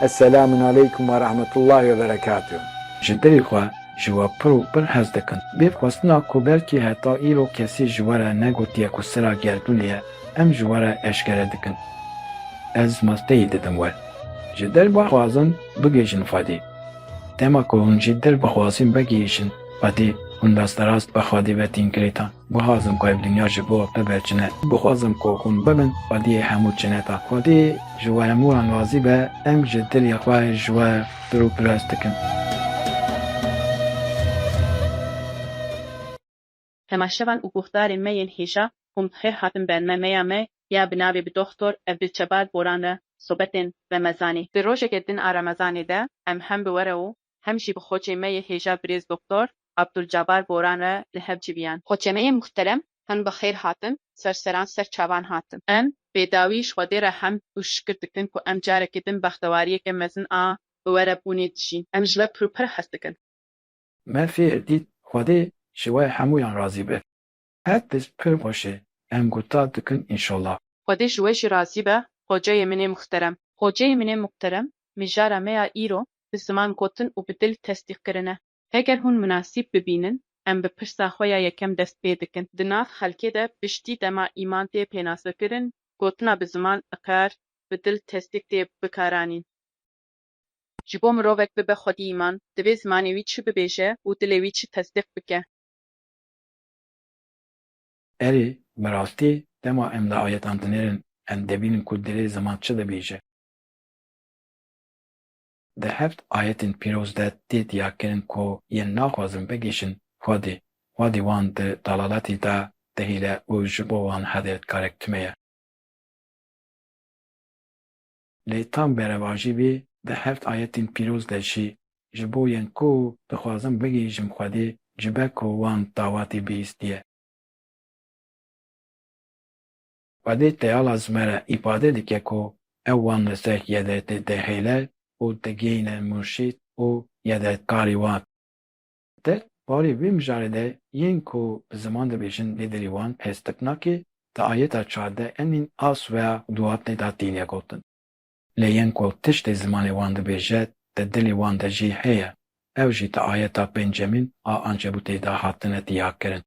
Eselamun aleykum ve rahmetullahi ve berekatuh. Ji dilê xwe ji we pir û pir hez dikim. Bê xwestina ku belkî heta îro kesî ji we re negotiye ku sira gerdûnê ye, em ji we re eşkere dikin. Ez malteyî didim we. Ji dil bixwazin bigihîjin Xwedê. Dema ku hûn ji dil bixwazin vegihîjin Xwedê, hûn rasterast bi Xwedê ve tîn girêdan. Guhazim ku ev dinya ji bo bibe çine. Guhazim ku hûn bibin xwediyê hemû çineta. Xwedî ji we hemû wan razî be, em ji dilê xwe ji we pir û pirs dikin. Temaşevan û guhdarên me yên hêja kom her hatin ber me meya me ya bi navê bi Doxtor Evdilçebar Boran re sobetên Remezanî. Di rojeke din a Remezanê de em hem bi were û hem jî bi xoçemeyê hêja birêz Doktor Abdulcabar Boran re li hev civiyan. Xoçemeyê muhterem hin bi xêr hatin, serseran ser çavan hatin. Em bêdawî ji Xwedê re hemd û şikir dikin ku em carekê din bextewariyeke mezin a bi we re bûnê dijîn. Em ji we pir û pir hez dikin. Me fêr dît Xwedê ji we hemûyan razî be. Her tişt pir xweş e. Em gutar dikin inşallah. Xwedê ji we jî razî be Xoceyê min ê muhterem. Xoceyê min ê muhterem, mijara me ya îro bi ziman gotin û bi dil tesdîq kirin e. Heger hûn minasîb bibînin, em bi pirsa xwe ya yekem dest pê dikin. Di nav xelkê de piştî dema îman tê pênasekirin, gotina bi ziman iqrar, bi dil tesdîq tê bikaranîn. Ji bo mirovek bibe xwedî îman, divê zimanê wî çi bibêje û dilê wî çi tesdîq bike. Erê, bi rastî dema em li ayetan dinêrin em dibînin ku dilê ziman çi dibêje. Di heft ayetên pîroz de tê diyarkirin ku yên naxwazin bigihîşin Xwedê, Xwedê wan di dalaletê de dihêle û ji bo wan hede dikare tune ye. Lê tam berevajî bî di heft ayetên pîroz de jî ji bo yên ku dixwazim bigihîjim Xwedê ji be ku wan dawatê bihîstiye. Xwedê teyala zime re îfade dike ku ew wan li ser yedetê dihêle û digihîne murşîd û yedetkarî wan. Di barê vê mijarê de yên ku bi ziman dibêjin lê dilê wan pez tip nake, di ayeta çardeh emîn a Sueya Duatnê de tîne gotin. Lê yên ku tiştê zimanê wan dibêje di dilê wan de jî heye, ew jî di ayeta pênc emîn a Ankebûtê de hatine diyakirin.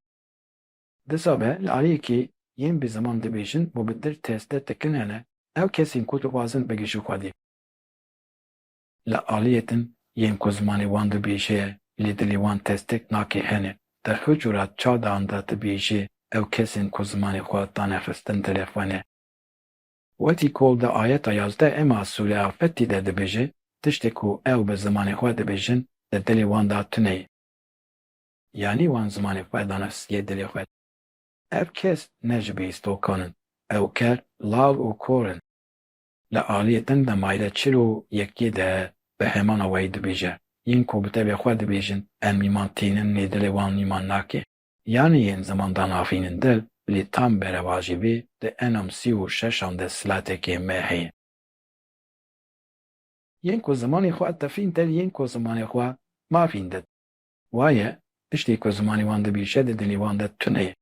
Disa be li aliyekî yên bi ziman dibêjin û bi dil teste tikin hene, ew kesên ku dixwazin bigihîjin xwedî. Li aliyê din yên ku zimanê wan dibêje ye lê dilê wan testek nake hene. Di her cura çadan de dibêje ew kesên ku zimanê xwe dane xistin dilê xwe ne. Wekî ku di ayeta yazdeh ema sûre Afetî de dibêje, tiştê ku ew bi zimanê xwe dibêjin di dilê wan de tune ye. Yanî wan zimanê xwe dane siye dilê xwe. Ev kes ne ji bêhîstokan in. Ew ker, lav û kor in. Li aliyê din de mayre çil û yekî de bi hêmana weyî dibêje, Yên ku bi tevê xwe dibêjin em nîman tînin lê dilê wan nîman nake. Yanî yên ziman danavînin dil lê tam berevajî bê di enam sî û şeşan de silatekê me heye. Yên ku zimanê xwe tefîn dil yên ku zimanê xwe mafîn dil. Waye, tiştê ku zimanê wan dibêje di dilê wan de tune ye.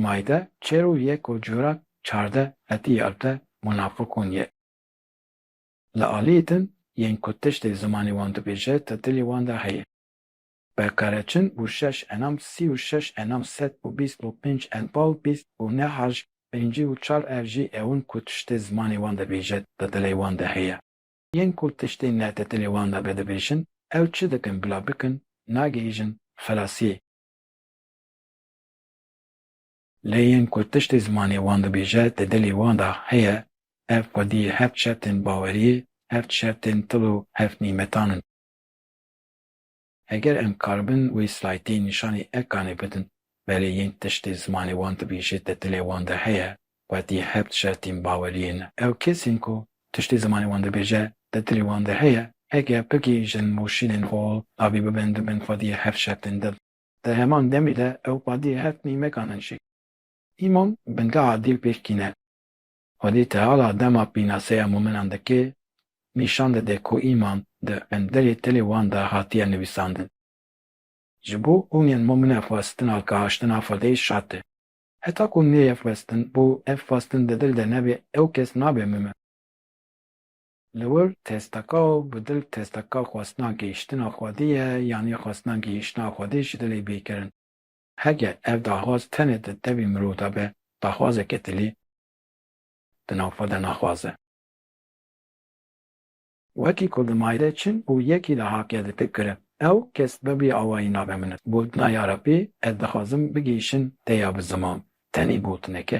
Maide çêro ye ku cura çardeh hetî ewte munafikon ye. Li aliyê din yên ku tiştê zimanê wan dibêje di dilê wan de heye. Berkareçin û şeş enam sî û şeş enam sed û bîst û pênc enbal bîst û ne harj pêncî û çar ev jî ewin ku tiştê zimanê wan dibêje di dilê wan de heye. Yên ku tiştê ne di dilê wan de be dibêjin ew çi dikin bila bikin nagihîjin xilasiyê. Lê yên ku tiştê zimanê wan dibêje di dilê wan de heye, ev xwedî heft şertên baweriyê, heft şertên til û heft nîmetan in. Heger em karibin wê slaytê nîşanî Ekanê bidin, belê yên tiştê zimanê wan dibêje di dilê wan de heye, xwedî heft şertên baweriyê ne. Ew kes in ku tiştê zimanê wan dibêje di dilê wan de heye, heger bigihîjin û şînên hol avî bibin dibin xwedî heft şertên dil. Di heman demê de ew xwediyê her timî mekanin şik. Îmam bingeha dîl pêş tîne. Xwedî teala dema pînaseya mûminan dike, nîşan dide ku îman di qinderê tilê wan de hatiye nivîsandin. Ji bo hûn yên mûmine xwestina kahaştina xwediyê şart e. Heta ku neyê xwestin û ev xwestin di dil de nebe ew kes nabe mûmin. Li wir testeka û bi dil testeka xwestina gihîştina Xwedê ye yanî xwestina gihîştina Xwedê ji dilê bê kirin. Heger ev daxwaz tenê di tevî mirov de be, daxwazeke dilî di nav xwe de naxwaz e. Wekî ku li mayde çin û yekî li haqê de tê kirin, ew kes bibî awayî nabe min. Gotina ya Rebî ez dixwazim bigihîşin te ya bi ziman, tenê gotineke.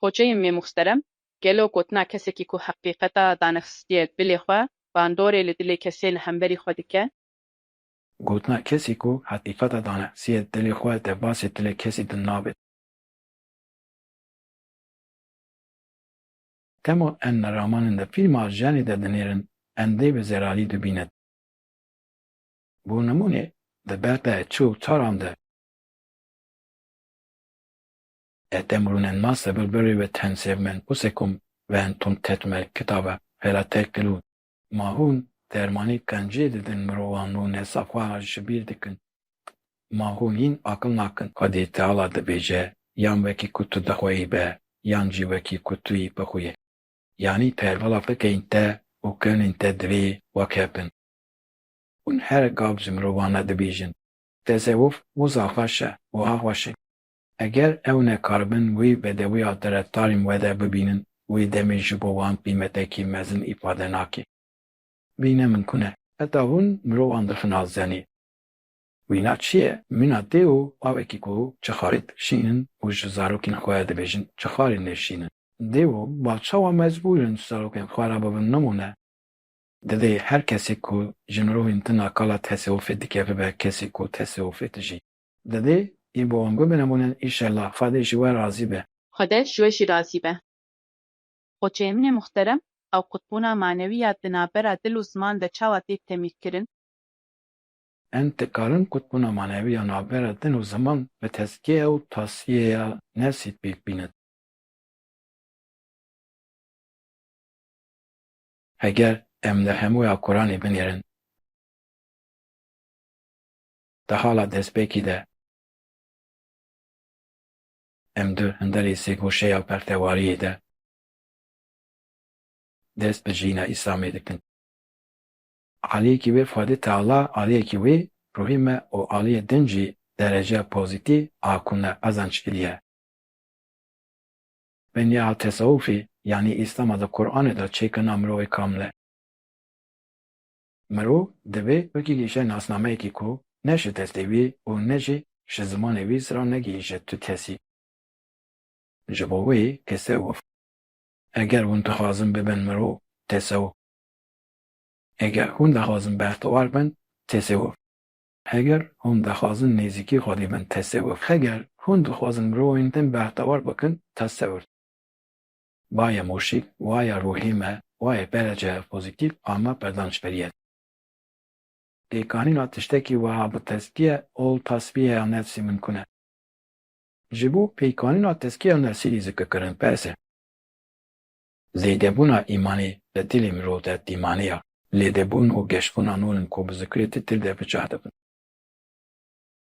Poçeyên mê muxsterem, gelo gotina kesekî ku heqîqeta danexsistiye dilê xwe, bandorê li dilê kesê li hemberî xwe dike? Gotina kesî ku heqîqeta danexsistiye dilê xwe, debasê dilê kesî din nabe. Dema em li ramanin de fîlma jenê de dinêrin, em dê bi zerarî dibînin. Bo nimûnê, di bertayê çi û çaran de. Etem rûnen ma se bir birrî ve ten sêv men ku se kum ven tund tet me kitabe fela te kilu. Ma hûn dermanî qencî didin mirovan rûne safa ra ji bîr dikin. Ma hûn hîn aqil nakin. Xwedî Teala dibêje yan wekî ku tu dixweyî be yan jî wekî ku tu yî bixwîyê. Yanî pervala fikeyên te û kewnên te divê wek hev bin. Hûn her gav ji mirovan re dibêjin, Tezeûf wiza xweş e, wiha xweş e. Eger ew nekaribin wî bedewiya terefdarên we de bibînin, wê demê ji bo wan qîmetekî mezin îfade nake. Wî ne min ku ne. Heta hûn mirovan dixin a zenê. Wîna çi ye? Mîna tê û bavekî ku çi xarê dikişînin û ji zarokên xwe dibêjin çi xarê nêşînin. Dê û bav çawa mecbûr in ji zarokên xwe re bibin nimûne? Divê her kesê ku ji mirovên din a kala tesewufê dike bibe kesê ku tesewufê dijî. Divê yên bi wan guh binemûnin inşallah xwedê ji we razî be. Xwede ji we jî razî be. Xoçeyê min ê muhterem, ew qutbûna manewî ya di navbera dil û ziman de çawa tê temîlkirin? Em dikarin qutbûna manewî ya navbera din û ziman bi tezkiye û tasfiyeya nefsî pêk bînin. Heger em li hemûya Quranê binêrin. Di hala destpêkî de em di hundirê sêgoşeya bertewariyê de dest bi jiyîna Îslamê dikin. Aliyekî wê Fadî Teala aliyekî wê ruhî me û aliyê din jî dereceya pozîtî a ku me qezanc kiriye. Benya tesewufê yanî Îslama di Quranê de çêkirina mirovê kamil e. Mirov divê bigihîşe nasnameyekî ku ne ji destê wî û ne jî ji zimanê wî ziran negihîşe tu kesî. Ji bo wê tesewuf, eger hûn dixwazin bibin mirov, tesewuf. Eger hûn dixwazin bextewar bin, tesewuf. Eger hûn dixwazin nêzîkî Xwedê bin, tesewuf. Eger hûn dixwazin mirovên din bextewar bikin, tasewur. Waye moşik, waye ruhê me, waye pere cihê pozîtîf a me berdan ji berî ye de. Pêkanîna tiştekî wiha bi tezkiye ol tasfiyeya nefsî mimkun e. Ji bo pêkanîna tezkiyeya nefsî dî zikir kirin pers e. Zêdebûna îmanê li dilê mirov de dîmane ya. Lêdebûn û geşbûna nûn in ku bi zikirê Titir de bi cah dibin.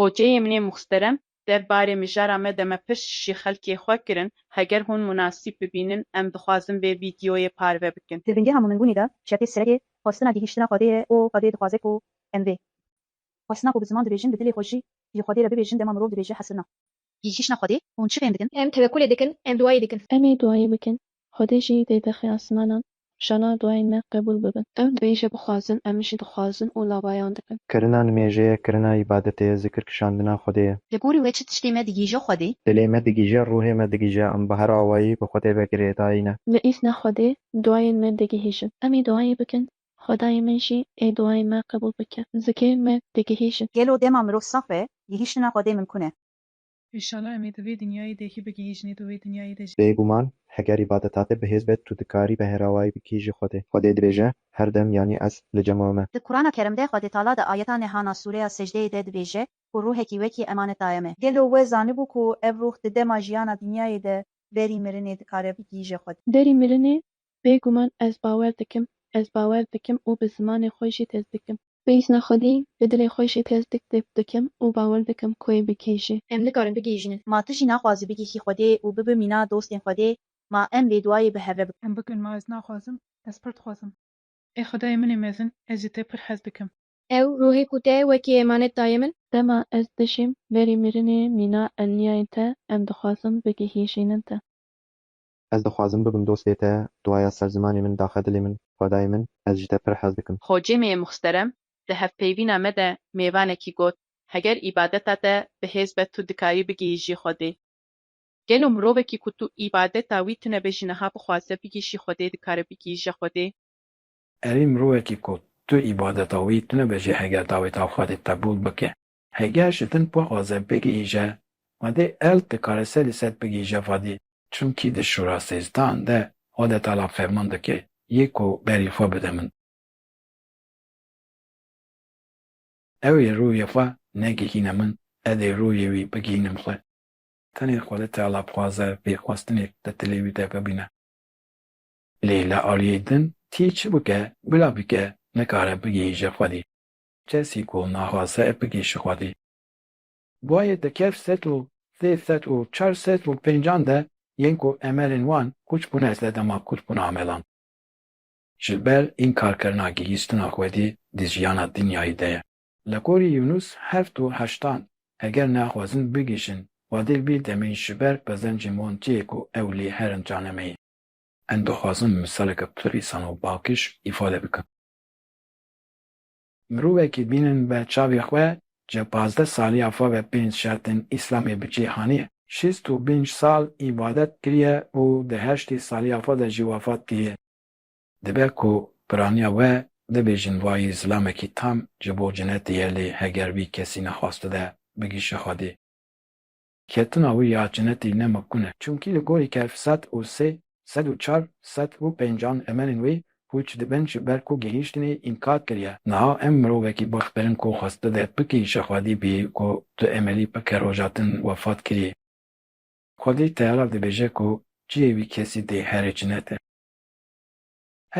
Hoceyê min ê muxterem der barê mijara me de me pirs ji xelkê xwe kirin, heger hûn munasîb bibînin em dixwazin vê vîdeoyê parve bikin. Di bingeha Mûminbûnê de şertê sereke xwestina gihîştina Xwedê ye û Xwedê dixwaze ku em vê xwestina ku bi ziman dibêjin bi dilê xwe jî ji Xwedê re bibêjin dema mirov dibêje hesirna. Gihîştina Xwedê, hûn çi bên dikin? Em tewekulê dikin, em duayê dikin. Em ê duayê bikin, Xwedê jî dê dexê asmanan, şana duayên me qebûl bibin. Ew nivîşe bixwazin, em jî dixwazin û lavayan dikin. Kirina nimêjê ye, kirina îbadetê ye, zikir kişandina Xwedê ye. Li gorî wê çi tiştê me digîje Xwedê? Dilê me digîje, ruhê me digîje, em bi her awayî bi Xwedê ve girêdayî ne. Li îsna Xwedê duayên me digihîjin. Em ê duayê bikin, Xwedayê min jî ê duayên me qebûl bike. Zikê me digihîjin. Gelo dema mirov saf be, gihîştina Xwedê mimkûn e? Îşallah em ê di vê dinyayê de hî bigihîjin ê di wê dinyayê de jî. Bêguman heger îbadeta te bihêz be tu dikarî beherawayî bikî ji Xwedê. Xwedê dibêje, Her dem yanî ez li cema me. Di Kurana Kerîm de Xwedê Teala di ayeta nêhana sûreya Secdeyê de dibêje ku ruhekî wekî emanet daye me. Gelo we zanibû ku ev ruh di dema jiyana dinyayê de berî mirinê dikare bigihîje Xwedê? Berî mirinê Bêguman ez bawer dikim, ez bawer dikim û bi zimanê xwe jî tesdikim. Bêhna xwedî bi dilê xwe jî tesdik dib dikim û bawer dikim ku wê bigihîje. Em nikarin bigihîjinin. Ma tu jî naxwazî bigihî xwedê û bibi mîna dostên xwedê, ma em vê duayê bi hevre bikin. Em bikin, ma ez naxwazim, ez pir dixwazim. Ê xwedayê min ê mezin, ez ji te pir hez dikim. Ew ruhê ku te wekî emanet daye min. Dema ez dijîm verî mirinê mîna elniyayên te, em dixwazin bigihîjînin te. Ez dixwazim bibim dostê te, duaya ser zimanê min daxe dilê min, xwedayê min, ez ji te pir hez dikim. Hocêmê muxterem di hevpeyvîna me de mêvanekî got, Heger îbadeta te bi hêz be tu dikarî bigihîjî Xwedê. Gelo mirovekî ku tu îbadeta wî tune be jî niha bixwaze bigihîşî Xwedê dikare bigihîje Xwedê? Erê mirovekî ku tu îbadeta wî tune be jî heger daweta Xwedê qebûl bike, Heger ji din pa azev bigihîje vadê eld dikare se li ser bigihîje vadê. Çimkî di şûra sêzdan de Odetala ferman dike yê ku berî xwe bide min. Ew ê rûyê xwe negihîne min, ez ê rûyê wî bigihînim xwe. Tenê Xodetala dixwaze vê xwestinê li dilê wî de bibîne. Lê li aliyê din tî çi bike bila bike nikare bigihîje xwedî. Kesî ku naxwaze bigê ji Xwedê. Guhê di kevr sed û sê sed û çar sed û pêncan de yên ku emelên wan kûç bûne sedema kûç bûna amelan. Ji ber înkarkirina gihîstina Xwedê di jiyana dinyayî de ye. Li gorî Yûnûs heft û heştan, eger naxwazin bigihîşin Xwedê vî demê ji ber qezencên wan çi ye ku ew lê herin canemeyê. Em dixwazin misaleke pirr îsan û bakiş îfade bikin. Mirovekî bînin be çavê xwe ce pazdeh saliya fave pênc şertên Îslamê bi cê haniye. Şêst û pênc sal îbadet kiriye û di heştê saliya xwe de jî wefat kiriye. Dibe ku piraniya we bibêjin vayî zilamekî tam ji bo cinetê ye lê heger vî kesî nexwastide bigihşe Xwedê. Ketina wî ya cinetî ne mimkun e. Çimkî li gorî kef sed û sê, sed û çar, sed û pencan emelên wî pûç dibin ji ber ku gihîştinê înkar kiriye. Niha em mirovekî bixpirin ku xwest bide bikî ji xwedî bî ku tu emelî bike roja din wefat kirî. Xwedî teyara dibêje ku cihê wî kesî dê herê cinet e.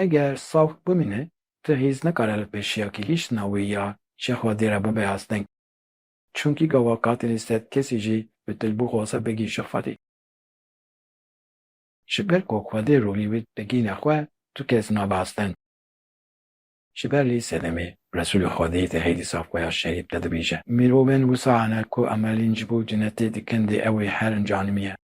Eger sax bimîne tu hîz nikare li pêşiya gihîştina wî ya ji xwedî re bibe asteng. Çimkî gawa katilî sed kesî jî bi tilbû xwase bigî ji Xwedî. Ji ber ku Xwedê rolî wî digîne xwe, tu kes nabe astin. Ji ber lî sedemî Resûlê Xwedî di hêdîsa xwe ya şerîf de dibîje, Mirovên wisa hene ku emelîn ji bo cinetê dikin dê ew ê herin canimiye.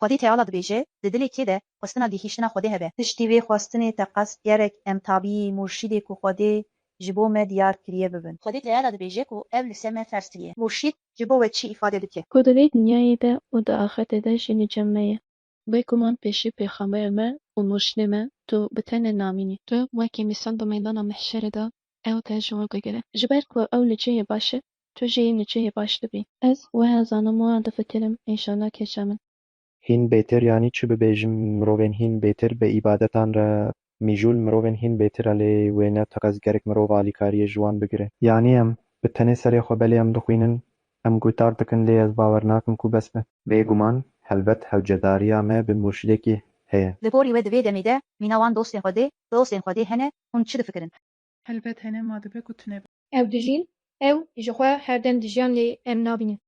Xwedî Teala dibêje, di dilê kê de xwestina gihîştina Xwedê hebe. Piştî vê xwestinê teqez gerek em tabîyî murşîdê ku Xwedê ji bo me diyar kiriye bibin. Xwedî Teala dibêje ku ev li ser me ferz kiriye. Murşîd ji bo we çî îfade dike? Ku di vê dinyayê de û di axirtê de jî li cem me ye. Bêguman pêşî pêxamberê me û murşîdê me tu bi tenê namîn î. Tu wekî mîsal di meydana mehşerê de ew te ji wan digire. Ji ber ku ew li cihê baş e Tu jî niçihê baş dibî. Ez weha zanim û difikirim înşala keça min. Hîn bêtir yanî çi bibêjim mirovên hîn bêtir bi îbadetan re mîjûl mirovên hîn bêtir e lê wê ne teqez gerek mirov alîkariyê ji wan bigire. Yanî em bi tenê serê xwe belê em dixwînin em gutar dikin lê ez bawer nakim ku bes be. Bê guman helbet hewcedariya me bi murşidekî heye. Li gorî we di vê demê de mîna wan dostên xwedê, dostên xwedê hene hûn çi difikirin? Helbet hene ma dibe ku tune be. Ew dijîn, ew ji xwe her dem dijiyan lê em nabînin.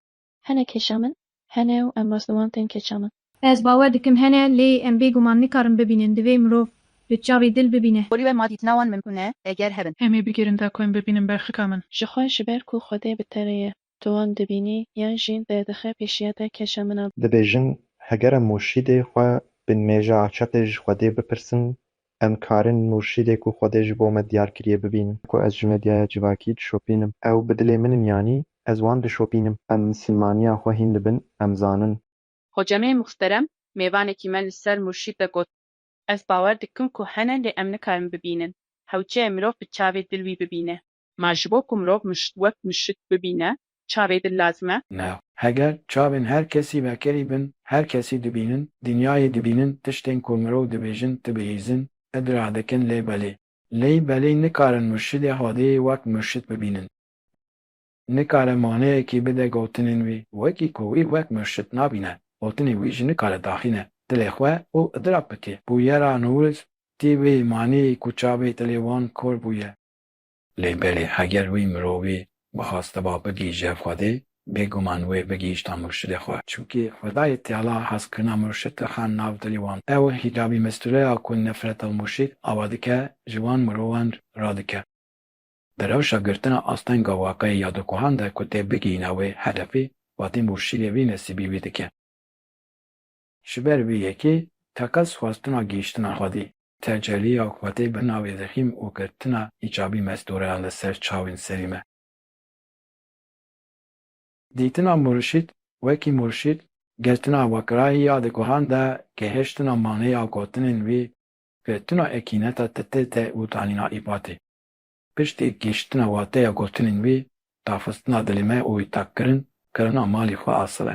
Hene keşa min hene û em rast li wan tên keça min. Ez bawer dikim hene lê em bê guman nikarin bibînin divê mirov bi çavê dil bibîne. Porî we ma dîtina wan mimkun e eger hebin. Em ê bigirin da ku em bibînin berxika min. Ji xwe ji ber ku xwedê bi terê ye. tu wan dibînî yan jî derdixe pêşiya te keşa min a. Dibêjin heger em murşîdê xwe bên mêja Açetê ji Xwedê bipirsin, em karin murşîdê ku Xwedê ji bo me diyar kiriye bibînin. Ku ez ji medyaya civakî dişopînim, ew bi dilê min in yanî ez wan dişopînim. Em misilmaniya xwe hîn dibin, em zanin. Hocamê muhterem mêvanekî me li ser murşîd de got. Ez bawer dikim ku hene lê em nikarin bibînin. Hewce ye mirov bi çavê dil wî bibîne. Ma ji bo ku mirov wek mişik bibîne çavê din lazim e? Na. Heger çavên her kesî vekerî bin, her kesî dibînin, dinyayê dibînin, tiştên ku mirov dibêjin, dibihîzin, idra dikin lê belê. Lê belê nikarin murşidê Xwedêyê wek murşid bibînin. Nikare maneyekî bide gotinên wî wekî ku wî wek murşid nabîne. Gotinên wî jî nikare daxîne dilê xwe û idrak bike. Bûyera Newroz tî wê maneyê ku çavê dilê wan kor bûye. Lê belê eger wî mirovî bixwastiba bigihîje Xwedê, bêguman wê bigihîşta murşidê xwe. Çimkî Xwedayê Teala hezkirina murşid dixan nav dilî wan. Ew hîcabî mestureya ku nefreta murşid ava dike ji wan mirovan radike. Di rewşa girtina astenga waqeyê ya di kohan de ku tê bigihîna wê hedefî, vatê murşidê vî nesîbî wî dike. Ji ber vê yekê teqez xwestina gihîştina xwedî, teceliya xwedê bi navê zexîm û girtina îcabî mestoreyan li ser çavên serî me. Dîtina murşîd wekî murşîd, girtina weqrayî ya di guhan de, gihiştina manê ya gotinên wî, girtina ekîneta titê te û danîna îbatê. Piştî gihîştina wateya gotinên wî, tafistina dilê me û wî takkirin, kirina malê xwe asil e.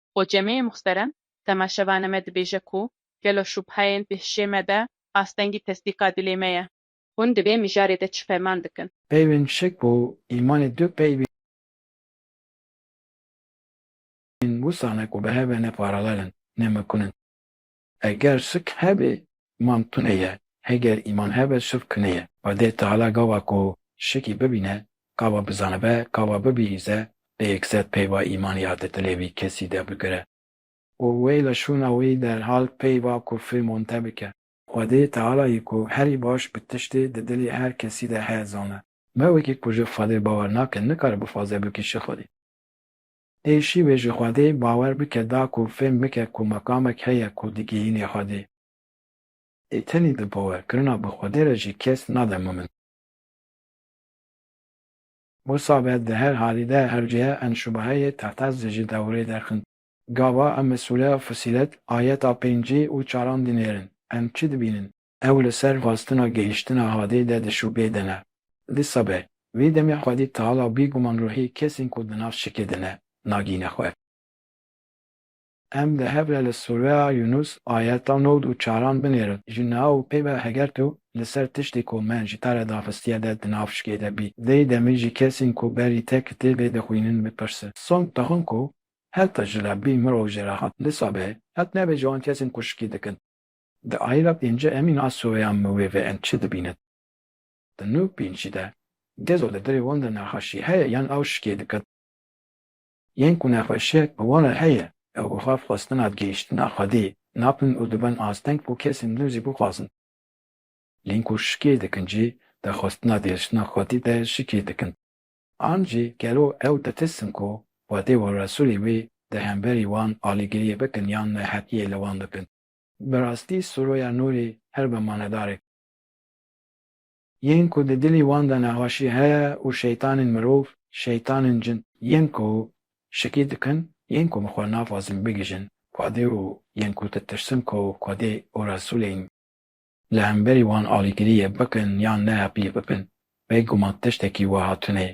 Xwe cemeyê muxteren temaşevane me dibêje ku gelo şubheyên di hişê me de astengî tesdîqa dilê me ye. Hûn di vê mijarê de çi ferman dikin? Peyvên şik û îmanê du peyvên wisa ne ku bi hev ve ne paralel in, ne mekun in. Eger şik hebe îman tune ye, heger îman hebe şik tune ye. Xwedê Teala gava ku şikî bibîne, gava bizanibe, gava bibihîze, lê yekser peyva îmanî ya di dilê vî kesî de bigire. Û wê li şûna wî derhal peyva kufrî monte bike. Xwedê Teala yê ku herî baş bi tiştê di dilê her kesî de heye zana. Me wekî ku ji Xwedê bawer nake, nikare bixwaze bikî şik Xwedî. Ê şîvê ji Xwedê bawer bike da ku fêm bike ku mekamek heye ku digihînê Xwedê. Ê tenê di bawer kirina bi Xwedê re jî kes nade ma min. Wisa be di her halî de her cuye em şubaheyê tehtas di ji dewrê derxin. Gava em bi sûre, fusîlet, ayeta pêncî û çaran dinêrin. Em çi dibînin? Ew li ser xwestina gihîştina hadê de di şûbê de ne. Dîsa be. Vî demê xwedî tal a bîguman ruhî kesên ku di nav şikê de ne, nagihîne xwe. Em di hev re li sûreya Yûnûs ayeta nod û çaran binêrin, ji niha û peyva heger tu li ser tiştê ku me ji te re daxistiye de di nav şikê de bî, dê demê ji kesên ku berî te kitêbê dixwînin bipirse. Song dixwin ku heta ji la bî mirov jê re hat. Dîsa be. Hat nebê ji wan kesên ku şikê dikin. Di ayîla pêncî em îna soya miwê ve em çi dibînin? Di nû pêncî de gezo li dirê wan de nexweşî heye yan ew şikê dikin? Yên ku nexweşiyek bi wan re heye ew bi xwe xwestina gihîştina Xwedê napin û dibin asteng ku kesên nû zî bixwazin. Lên ku şikê dikin jî di xwestina gihîştina Xwedê de şikê dikin. An jî gelo ew ditirsin ku Xwedê û Resûlê wê di hemberî wan alîgiriyê bikin yan nehetiyê li wan bikin? Bi rastî Suroya Nûrî her bi manedarek e. Yên ku di dilî wan de nexweşî heye û şeytanên mirov, şeytanên cin, yên ku şikî dikin, yên ku bi xwe naxwazin bigihîjin Xwedê û yên ku ditirsin ku Xwedê û Resûlê î li hemberî wan alîgiriyê bikin yan ne pîl bibin, bêguman tiştekî wiha tune ye.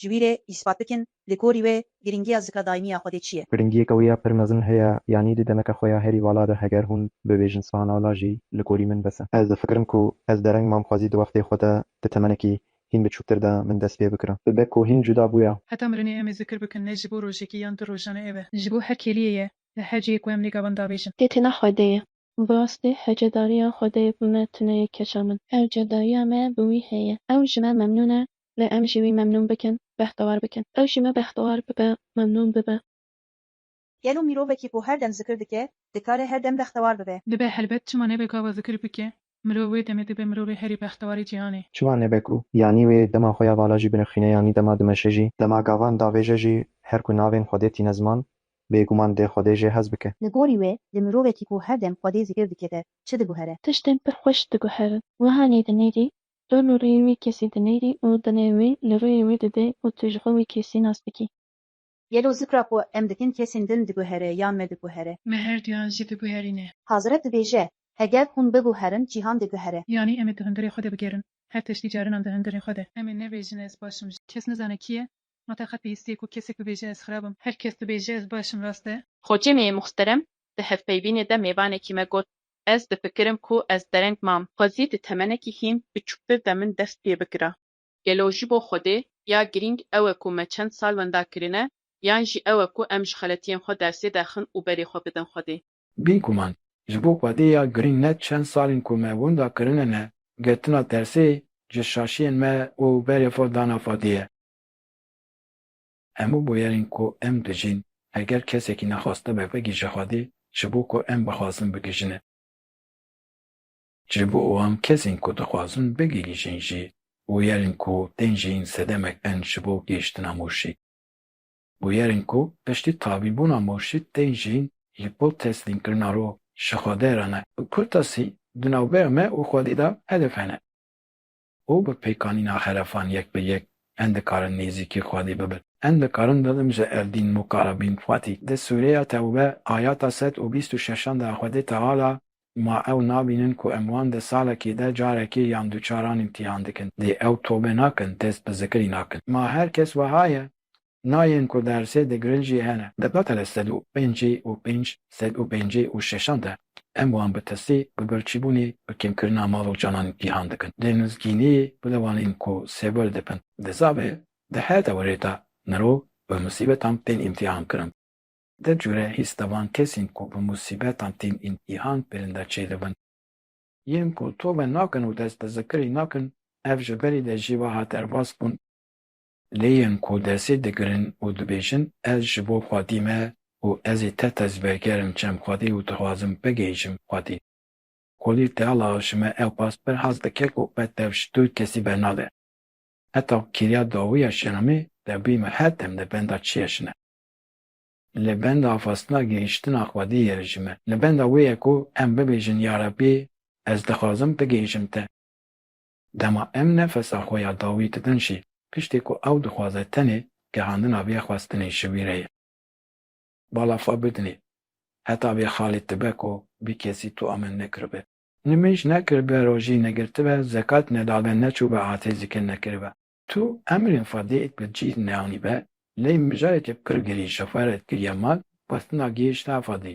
Ji wî re îspat bikin li gorî wê girîngiya zika daîmiya Xwedê çi ye. Girîngiyeke wê ya pir mezin heye, yanî di demeke xwe ya herî vala de heger hûn bibêjin spanala jî li gorî min bes e. Ez difikirim ku ez dereng mam xwezî di wextê xwe de di temenekî hîn biçûktir de min dest pê bikirin. Bibe ku hîn cuda bûya. Heta mirinê em ê zikir bikin ne ji bo rojekî yan du rojan e ev e. Ji bo her kêliyê ye li her cihê ku em lê gavan dabêjin. Kê tîna Xwedê ye. Bi rastî hejedariya Xwedê yê ku me tune ye keça min. Hejedariya me bi wî heye. Ew ji me memnûn e lê em jî wî memnûn bikin, behdewar bikin. Ew jî me behdewar bibe, memnûn bibe. Gelo mirovekî ku her dem zikir dike, dikare her dem behdewar bibe? Dibe helbet, çima nebe gava zikir bike, mirov wê demê dibe mirovê herî behdewarê cîhanê. Çima nebe ku yanî wê dema xwe ya vala jî binirxîne yanî dema dimeşe jî, dema gavan davêje jî her ku navên Xwedê tîne ziman, bêguman dê Xwedê jê hez bike. Li gorî wê li mirovekî ku her dem Xwedê zikir dike de çi diguhere? Tiştên pir xweş diguherin. Wiha nêdî nêdî Tu li rûyê wî kesî dinêrî û dinê wî li rûyê wî didê û tu ji xwe wî kesî nas dikî. Gelo zikra ku em dikin kesên din diguhere yan me diguhere? Me her duyan jî diguherîne. Hazret dibêje, Heger hûn biguherin cîhan diguhere. Yanî em ê di hundirê xwe de bigerin. Her tiştî carinan di hundirê xwe de. Em ê nebêjin ez baş im. Kes nizane kî ye. Ma te qet bihîstiye ku kesek bibêje ez xirab im? Her kes dibêje ez baş im rast e. Xoçê me yê muxterem di hevpeybînê de mêvanekî me got Ez difikirim ku ez dereng mam, xwezî di temenekî hîn biçûktir de min dest pê bikira. Gelo ji bo Xwedê ya girîng ew e ku me çend sal wenda kirine yan jî ew e ku em ji xeletiyên xwe dersê derxin û berê xwe bidin Xwedê? Bî guman, ji bo Xwedê ya girîng ne çend salên ku me wenda kirine ne, girtina dersê ji şaşiyên me û berê xwe dana Xwedê ye. Hemû bûyerên ku em dijîn, heger kesekî nexwaste be vegihîje xwedî ji bo ku em bixwazin bigihîjine. Ji bo wan kesên ku dixwazin bigihîjin jî bûyerên ku tên jîn sedemek in ji bo gihîştina mûrşî. Bûyerên ku piştî tabîbûna mûrşî tên jîn ji bo teslîmkirina ruh ji Xwedê re ne. Kurtasî di navbeya me û xwedî de hedef hene. û bi pêkanîna xerefan yek bi yek en dikarin nêzîkî Xwedê bibin. En dikarin bibin ji Evdîn Mukarabîn Xwedî. Di sûreya Tewbe ayata sed û bîst û şeşan de Xwedê Teala ma ew nabînin ku em wan di salekê de carekê yan duçar an îmtîhan dikin. Dê ew tobe nakin, dest bi zikirî nakin. Ma her kes weha ye, nayên ku dersê digirin jî hene. Di betele sed û pêncî û pênc, sed û pêncî û şeşan de em wan bi tirsî, bi birçîbûnê, bi kêmkirina mal û canan cîhan dikin. Dê nuzgînî bide wan ên ku sêwir dibin. Di zavê di her dewerê de mirov bi musîbetan tên îmtîhan kirin. Di cure hîs de van kesên ku bi musîbetan tên îmtîhan kirin de çêdibin. Yên ku tove nakin û dest bi zikirî nakin, ev ji berî de jî weha derbas bûn. Lê yên ku desê digirin û dibêjin ez ji bo xwedî me û ez ê te tezberger im çem xwedî û dixwazim bigihîjim xwedî. Kolî Teala ji me ew pas pir hez dike ku me tev ji tu kesî bernade. Heta kiriya dawiya şeramê tevbî me her dem li benda çi ye jine. Li benda afastina gihîştina xwedî ye ji me. Li benda wê ye ku em bibêjin Yarebbî ez dixwazim bigihîjim te. Dema em nefesa xwe ya dawî didin jî, piştî ku ew dixwaze tenê gehandina vê xwestinê ji wî re ye. Balafa bidinê, heta vê xalê dibe ku bî kesî tu amen nekiribe. Nimêj nekiribe, rojî negirtibe, zekat nedabe, neçûbe asê zikir nekiribe. Tu emrên xwe dê êt bi cîh neanîbe, lê mijarê ke pir girî ji xwe re dikiriye mal, xwestina gihêşta xwe dî.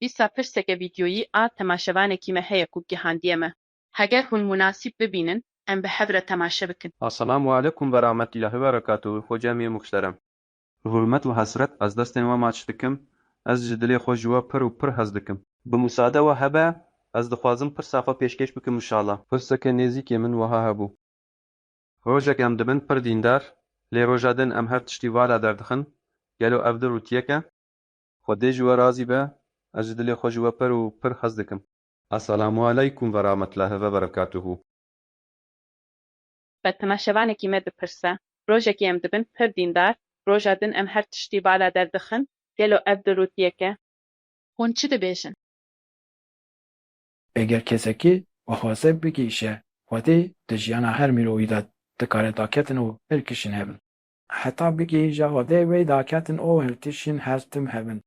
Dîsa pirseke vîdyoyî a temaşevanekî me heye ku gihandiye me. Heger hûn munasîb bibînin em bi hev re temaşe bikin. Assalamu alekum verahmetillahi veberekatuhu Xo cemî muhterem. Bi hurmet û hesret ez destên we maç dikim, ez ji dilê xwe ji we pir û pir hez dikim. Bi musade we hebe ez dixwazim pirsa xwe pêşkêş bikim inşala. Pirseke nêzîkê min wiha hebû. Rojek em dibin pir dîndar, lê roja din em her tiştî vala derdixin, gelo ev di rûtiyek e? Xwedê ji we razî be, ez ji dilê xwe ji we pir û pir hez dikim. Eselamualeykum verametlahi veberekatuhu. Fatima şevanekî me dipirse, rojekî em dibin pir dîndar, roja din em her tiştî bala der dixin, gelo ev dirûtiyek e? Hûn çi dibêjin? Eger kesekî bixwaze bigihîşe Xwedê, di jiyana her mirovî de dikare daketin û pir kişîn hebin. Heta bigihîja odeyê wê da ketin û her tişîn her tim hev in.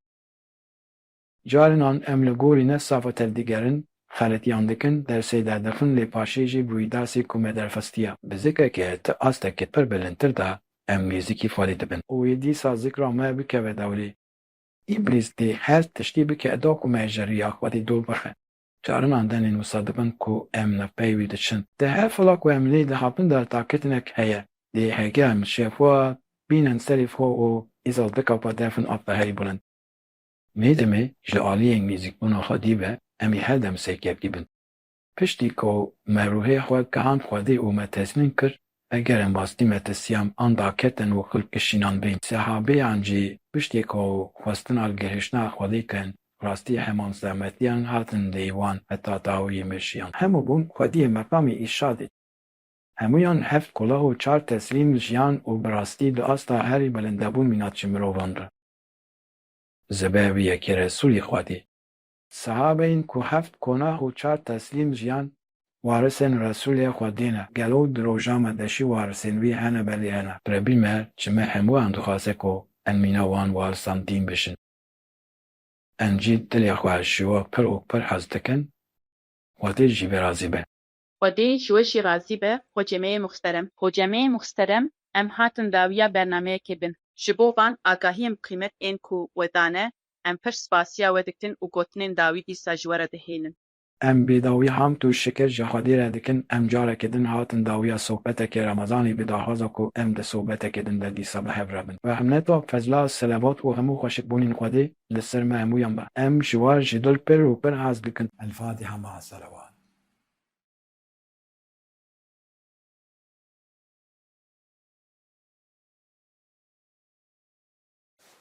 Carinan em li gorî ne safa tev digerin, xeletiyan dikin, dersê derdixin lê paşê jî bûyî dersê ku me derxestiya. Bi zikreke ti astekê pir bilindtir de em mîzikî falî dibin. Û wê dîsa zikra me bikeve dewrê. Îblîs dê her tiştî bike do ku me ji riya Xwedê dûr bixe. Carinan denên wisa dibin ku em li pey wî diçin. Di her fila ku em lê dihapin de takitinek heye. Lê heger em şefa bînin serê xwe û îsal dikapa derfin a peherî bilind. Mê di mê ji aliyê nêzîkbûna xwedî ve em ê her dem serkevtî bin. Piştî ku me ruhê xwe kihand xwedê û me tesmîm kir Heger em rastî metesiyan an daketin û xil kişînan bên, sehabêyan jî piştê ku xwestina gihiştina Xwedê kin, rastî heman zehmetiyan hatin lê wan heta dawiyê meşiyan. Hemû bûn xwediyê meqamê îrşadê. Hemûyan heft qulaq û çar teslîm jiyan û bi rastî di asta herî bilinde bûn mînatçî mirovan re. Zebe wî yekê Resûlî Xwedê. Sehabeyên ku heft konah û çar teslîm jiyan, warisên Resûlê xwe dîne. Gelo di roja me de jî warisên wî hene belê hene. Rebbî me ji me hemûyan dixwaze ku em mîna wan warisan dîn bijin. Em jî dilê xwe ji we pir û pir hez dikin, Xwedê ji vê razî be. Xwedê ji we jî razî be Hocemeyê Muxterem. Hocemeyê Muxterem em hatin dawiya bernameyekê bin. Ji bo van agahiyên bi qîmet ên ku we dane em pir spasiya we dikin û gotinên dawî dîsa ji we re dihêlin. Em bi dawî hamd û şikir ji Xwedê re dikin em carekê din hatin dawiya sohbetekê Remezanê bi daxwaza ku em di sohbetekê din de dîsa bi hev re bin. Rehmeta, fezla, selevat û hemû xweşikbûnên Xwedê li ser me hemûyan be. Em ji we ji dil pir û pir hez dikin. Elfatiha ma Selevat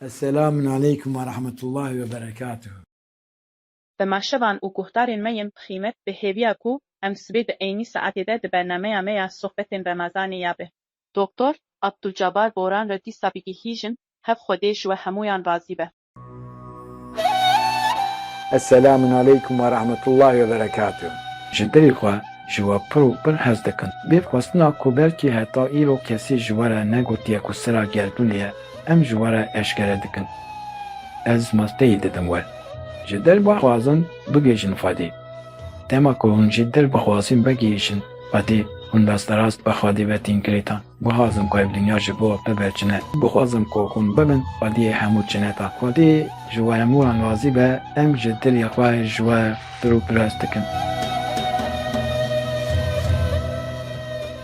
Selam aleykum ve rahmetullah ve berekatuh. Bi meşevan û guhdarên me yên bi xîmet bi hêviya ku em sibê di eynî saetê de di bernameya me ya Sohbetên Remezanê ya bi Doktor Abdulcabar Boran re dîsa bigihîjin, hev Xwedê ji we hemûyan razî be. Eselamun aleykum ve rahmetullahi ve berekatuh. Ji dilê xwe ji we pir û pir hez dikim. Bê xwestina ku belkî heta îro kesî ji we re negotiye ku sira gerdûnê ye, em ji we re eşkere dikin. Ez masteyê didim we. Ji dil bixwazin bigihîjin Xwedê. Dema ku hûn ji dil bixwazin vegihîjin Xwedê, hûn rasterast bi Xwedê ve tên girêdan. Guhazim ku ev dinya ji bo bibe çine. Guhazim ku hûn bibin xwediyê hemû çineta. Xwedî ji we hemû an razî be, em ji dilê xwe ji we pirûpirest dikin.